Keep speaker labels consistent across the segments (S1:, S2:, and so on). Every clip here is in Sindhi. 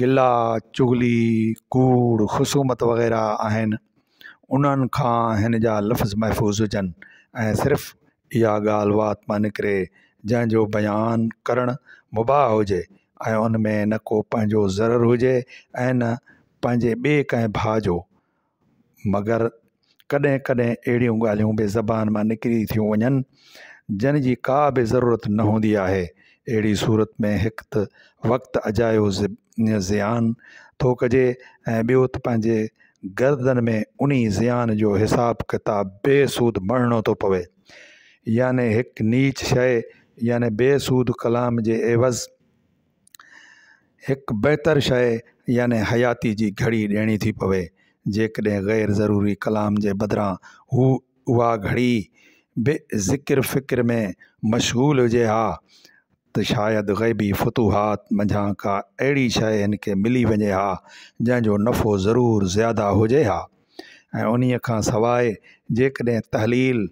S1: گلا، چغلي، ڪوڙ، خصومت وغيره آهن انهن کان هن جا لفظ محفوظ هجن ۽ صرف اها ڳالهه وات مان نڪري جنهن جو بيان ڪرڻ مباح هجي ۽ ان ۾ نه ڪو پنهنجو ضرر هجي ۽ نه پنهنجي ٻي ڪنهن ڀاء جو مگر ڪڏهن ڪڏهن اهڙيون ڳالهيون به زبان مان نڪري ٿيون وڃن جن جي ڪا به ضرورت نه هوندي آهي اهڙي صورت ۾ هڪ ته وقت اجايو زيان ٿو ڪجي ۽ ٻيو ته پنهنجي گردن ۾ انهي زيان جو حساب ڪتاب بي سود مڙهڻو ٿو پوي يعني هڪ نيچ شيء يعني بي سود ڪلام جي عيوض هڪ بهتر شيء يعني حياتيء جي گهڙي ڏيڻي ٿي پوي، جيڪڏهن غير ضروري ڪلام جي بدران هو اها گهڙي به ذڪر فڪر ۾ مشغول هجي ها ته شايد غيبي فتوحات منجهان ڪا اهڙي شيء هن کي ملي وڃي ها، جنهن جو نفعو ضرور زياده هجي ها ۽ انهيء کان سواء جيڪڏهن تحليل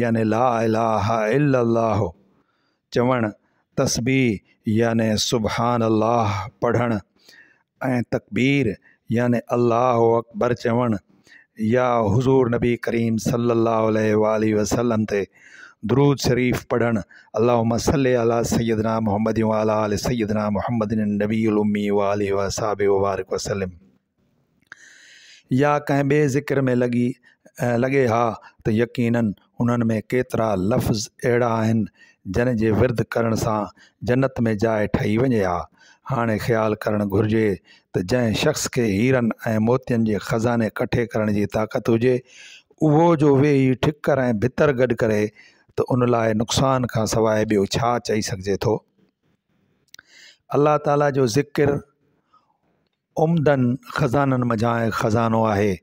S1: يعني لا اله الا الله چوڻ، تسبيح يعني سبحان الله پڙهڻ ۽ تڪبير يعني الله اڪبر چوڻ يا حضور نبي ڪريم صلي الله عليه واٰله وسلم تي درود شريف پڙهڻ اللهم صلي علي سيدنا محمد وعلي آل سيدنا محمد النبي الامي وآله وصحبه وبارڪ وسلم. يا ڪنهن ٻئي ذڪر ۾ لڳي لڳي ها ته يقيناً انهن ۾ ڪيترا لفظ اهڙا آهن جن جي ورد ڪرڻ سان جنت ۾ جاء ٺهي وڃي ها هاڻي خيال ڪرڻ گهرجي ته جنهن شخص کي هيرن ۽ موتين جي خزاني ڪٺي ڪرڻ جي طاقت هجي اهو جو ويهي ٺڪر ۽ ڀتر گڏ ڪري ته ان لاء نقصان کان سواء ٻيو ڇا چئي سگهجي ٿو الله تعاليٰ جو ذڪر عمدن خزانن منجهان هڪ خزانو آهي،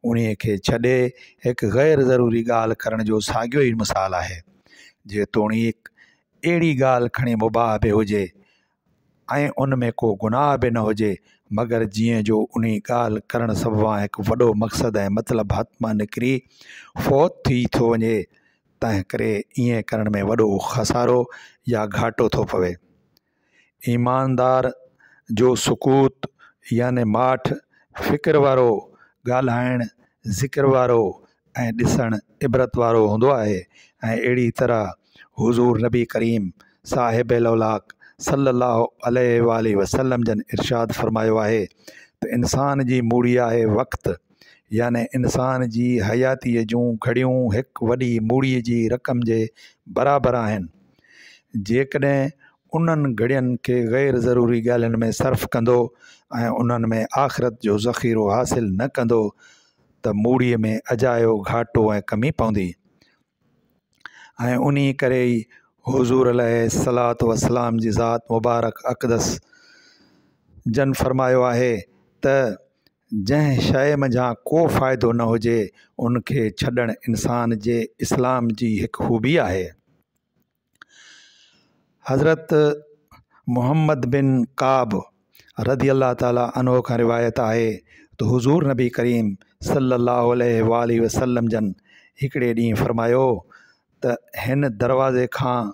S1: انهيء کي ڇڏي هڪ غير ضروري ڳالهه ڪرڻ جو ساڳيو ئي مثال آهي. جيتوڻيڪ اهڙي ڳالهه کڻي مباح به هجي ۽ ان ۾ ڪو گناهه به نه هجي، مگر جيئن جو انهيء ڳالهه ڪرڻ سببان هڪ وڏو مقصد ۽ مطلب هٿ مان نڪري فوت ٿي ٿو وڃي، تنهنڪري ائين ڪرڻ ۾ وڏو خسارو يا گهاٽو ٿو پوي. ايماندار جو سڪوت يعني ماٺ، فڪر وارو ڳالهائڻ، ذڪر وارو ۽ ڏسڻ عبرت وارو هوندو آهي ۽ اهڙي طرح حضور نبي ڪريم صاحب لولاڪ صلّي الله عليه واٰله وسلّم جن ارشاد فرمايو آهي ته انسان جي موڙي آهي وقت يعني انسان جي حياتيء جون گهڙيون هڪ وڏي موڙي جي رقم جي برابر آهن. جيڪڏهن انهن گهڙين کي غير ضروري ڳالهين ۾ صرف ڪندو ۽ انهن ۾ آخرت جو ذخيرو حاصل نه ڪندو ته موڙي ۾ اجايو گهاٽو ۽ ڪمي پوندي ۽ انهي ڪري ئي حضور عليه الصلاة والسلام جي ذات مبارڪ اقدس جن فرمايو آهي ته جنهن شيء منجهان ڪو فائدو نه هجي ان کي ڇڏڻ انسان جي اسلام جي هڪ خوبي آهي. حضرت محمد بن قعب رضي الله تعالٰي عنه کان روايت آهي ته حضور نبي ڪريم صلي الله عليه واٰله وسلم جن هڪڙي ڏينهن فرمايو ته هن دروازي کان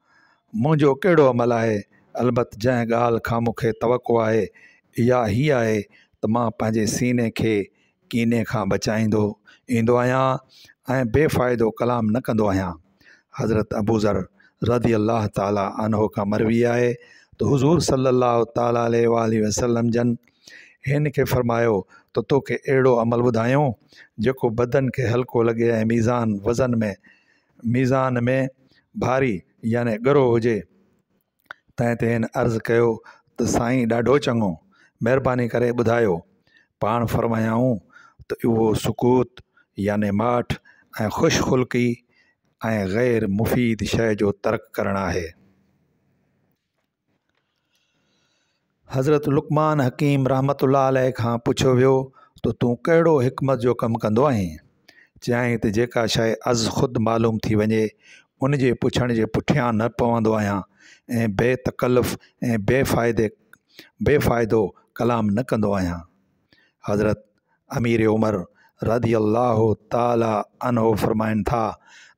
S1: منهنجو ڪهڙو عمل آهي؟ البت جنهن ڳالهه کان مون کي توقع آهي، اها هيء آهي ته مان پنهنجي سيني کي ڪيني کان بچائيندو ايندو آهيان ۽ بي فائدو ڪلام نه ڪندو آهيان. حضرت ابوذر رضي الله تعاليٰ عنه کان مروي آهي ته حضور صلّي اللّٰه تعاليٰ عليه واٰله وسلّم جن هن کي فرمايو ته توکي اهڙو عمل ٻڌايون جيڪو بدن کي هلڪو لڳي ۽ ميزان، وزن، ۾ ميزان ۾ ڀاري يعني ڳرو هجي. تنهن تي هن عرض ڪيو ته سائين ڏاڍو چڱو، مهرباني ڪري ٻڌايو. پاڻ فرمايائون ته اهو سڪوت يعني ماٺ ۽ خوش خلقي ۽ غير مفيد شيء جو ترڪ ڪرڻ آهي. حضرت لقمان حڪيم رحمت الله عليه کان پڇيو ويو ته تون ڪهڙو حڪمت جو ڪم ڪندو آهين چيائين ته جيڪا شيء از خود معلوم ٿي وڃي ان جي پڇڻ جي پٺيان نه پوندو آهيان ۽ بي تڪلف ۽ بي فائدي بي فائدو ڪلام نه ڪندو آهيان حضرت امير عمر رضي الله تعالٰي عنه فرمائن ٿا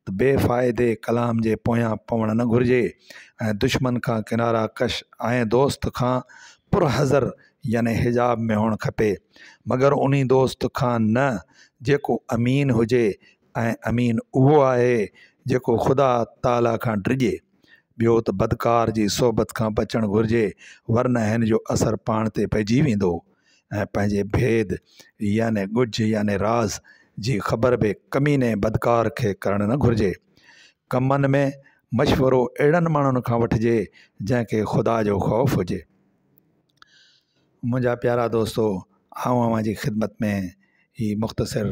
S1: ته بي فائدي ڪلام جي پويان پوڻ نه گهرجي ۽ دشمن کان ڪنارا ڪش ۽ دوست کان پر حذر يعني حجاب ۾ هئڻ کپي مگر انهي دوست کان نه جيڪو امين هجي ۽ امين اهو آهي جيڪو خدا تعاليٰ کان ڊڄي. ٻيو ته بدڪار جي صحبت کان بچڻ گهرجي ورنه هن جو اثر پاڻ تي پئجي ويندو ۽ پنهنجي ڀيد يعني ڳجهه يعني راز جي خبر به ڪميني بدڪار کي ڪرڻ نه گهرجي. ڪمن ۾ مشورو اهڙن ماڻهن کان وٺجي جنهن کي خدا جو خوف هجي. منهنجا پيارا دوستو آئون اوهان جي خدمت ۾ هي مختصر